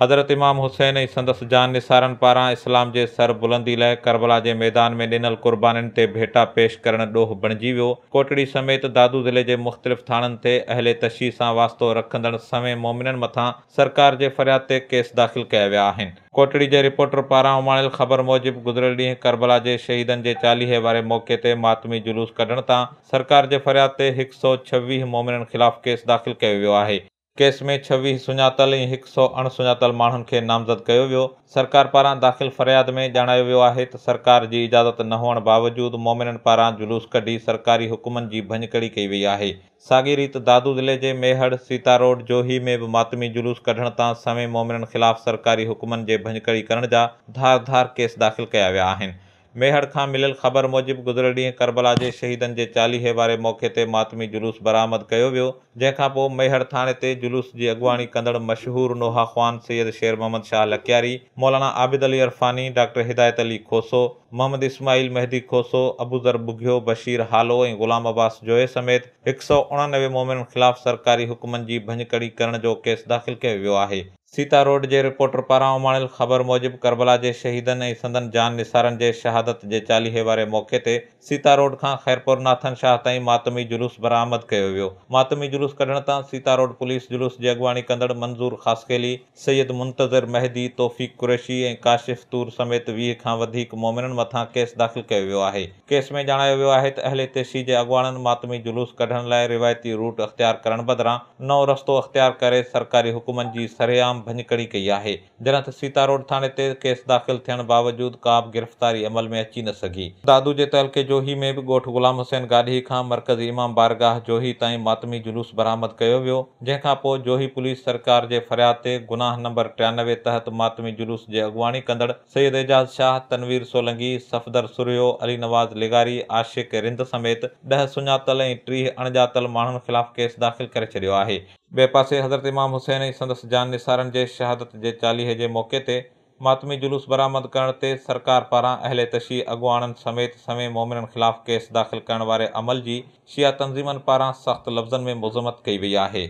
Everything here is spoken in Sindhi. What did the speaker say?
حضرت امام حسين ۽ سندس جانثارن پاران اسلام جي سر بلندي لئه ڪربلا جي ميدان ۾ ڏنل قربانين تي ڀيٽا پيش ڪرڻ ڏوھ بڻجي ويو. ڪوٽڙي سميت دادو ضلعي جي مختلف ٿاڻن تي اهل تشيع سان واسطو رکندڙ سوين مومنن مٿان سرڪار جي فرياد تي ڪيس داخل ڪيا ويا آهن. ڪوٽڙي جي رپورٽر پاران اماڻيل خبر موجب گذريل ڏينهن ڪربلا جي شهيدن جي چاليهي واري موقعي تي ماتمي جلوس ڪڍڻ تان سرڪار جي فرياد تي هڪ سؤ ڇويهه مومنن خلاف ڪيس داخل ڪيو ويو آهي، ڪيس ۾ ڇويهه سڃاتل ۽ هڪ سؤ اڻ سڃاتل ماڻهن کي نامزد ڪيو ويو، سرڪار پاران داخل فرياد ۾ ڄاڻايو ويو آهي ته سرڪار جي اجازت نه هئڻ باوجود مومنن پاران جلوس ڪڍي سرڪاري حڪمن جي ڀڃڪڙي ڪئي وئي آهي، ساڳي ريت دادو ضلعي جي ميهڙ، سيتا روڊ، جوهي ۾ به ماتمي جلوس ڪڍڻ تان سوين مومنن خلاف سرڪاري حڪمن جي ڀڃڪڙي ڪرڻ جا ڌار ڌار ڪيس داخل ڪيا ويا آهن. ميهڙ کان مليل خبر موجب گذريل ڏينهن ڪربلا جي شهيدن جي چاليهي واري موقعي تي ماتمي جلوس برآمد ڪيو ويو جنهن کان پوء ميهڙ ٿاڻي تي جلوس جي اڳواڻي ڪندڙ مشهور نوحه خوان سيد شير محمد شاهه لڪياري، مولانا عابد علي عرفاني، ڊاڪٽر هدايت علي کوسو، محمد اسماعيل، مهدي کوسو، ابوذر ٻگهيو، بشير هالو ۽ غلام عباس جويي سميت هڪ سؤ اڻنوي مؤمنن خلاف سرڪاري حڪمن جي ڀڃڪڙي ڪرڻ جو ڪيس داخل ڪيو ويو آهي. سيتا روڊ جي رپورٽر پاران اماڻيل خبر موجب ڪربلا جي شهيدن ۽ سندن جان نثارن جي شهادت جي چاليهي واري موقعي تي سيتا روڊ کان خيرپور ناٿن شاهه تائين ماتمي جلوس برآمد ڪيو ويو ماتمي جلوس ڪڍڻ تان سيتا روڊ پوليس جلوس جي اڳواڻي ڪندڙ منظور خاصخيلي سيد منتظر مهدي، توفيق قريشي ۽ ڪاشف طور سميت ويهه کان وڌيڪ مؤمنن مٿان ڪيس داخل ڪيو ويو آهي. ڪيس ۾ ڄاڻايو ويو آهي ته اهل تيشي جي اڳواڻن ماتمي جلوس ڪڍڻ لاء روايتي روٽ اختيار ڪرڻ بدران نئون رستو اختيار ڪري سرڪاري حڪمن جي سرعام ڀڃڪڙي ڪئي آهي جڏهن ته سيتاروڊ ٿاڻي تي ڪيس داخل ٿيڻ باوجود ڪابه گرفتاري عمل ۾ اچي نه سگهي. دادو جي تعلقي جوهي ۾ به ڳوٺ غلام حسين گاڏهي کان مرڪزي امام بارگاهه جوهي تائين ماتمي جلوس برآمد ڪيو ويو. جنهن کان پوء جوهي پوليس سرڪار جي فرياد تي گناهه نمبر ٽيانوي تحت ماتمي جلوس جي اڳواڻي ڪندڙ سيد اعجاز شاهه، تنوير سولنگي، صفدر سرهيو، علي نواز لغاري، عاشق رند سميت ڏهه سڃاتل ۽ ٽيهه اڻ ڄاتل ماڻهن خلاف ڪيس داخل ڪري ڇڏيو آهي. ٻئي پاسي حضرت امام حسين ۽ سندس جاننثارن جي شهادت جي چاليهي جي موقعي تي ماتمي جلوس برآمد ڪرڻ تي سرڪار پاران اهل تشيع اڳواڻن سميت سوين مؤمنن خلاف ڪيس داخل ڪرڻ واري عمل جي شيعه تنظيمن پاران سخت لفظن ۾ مذمت ڪئي وئي آهي.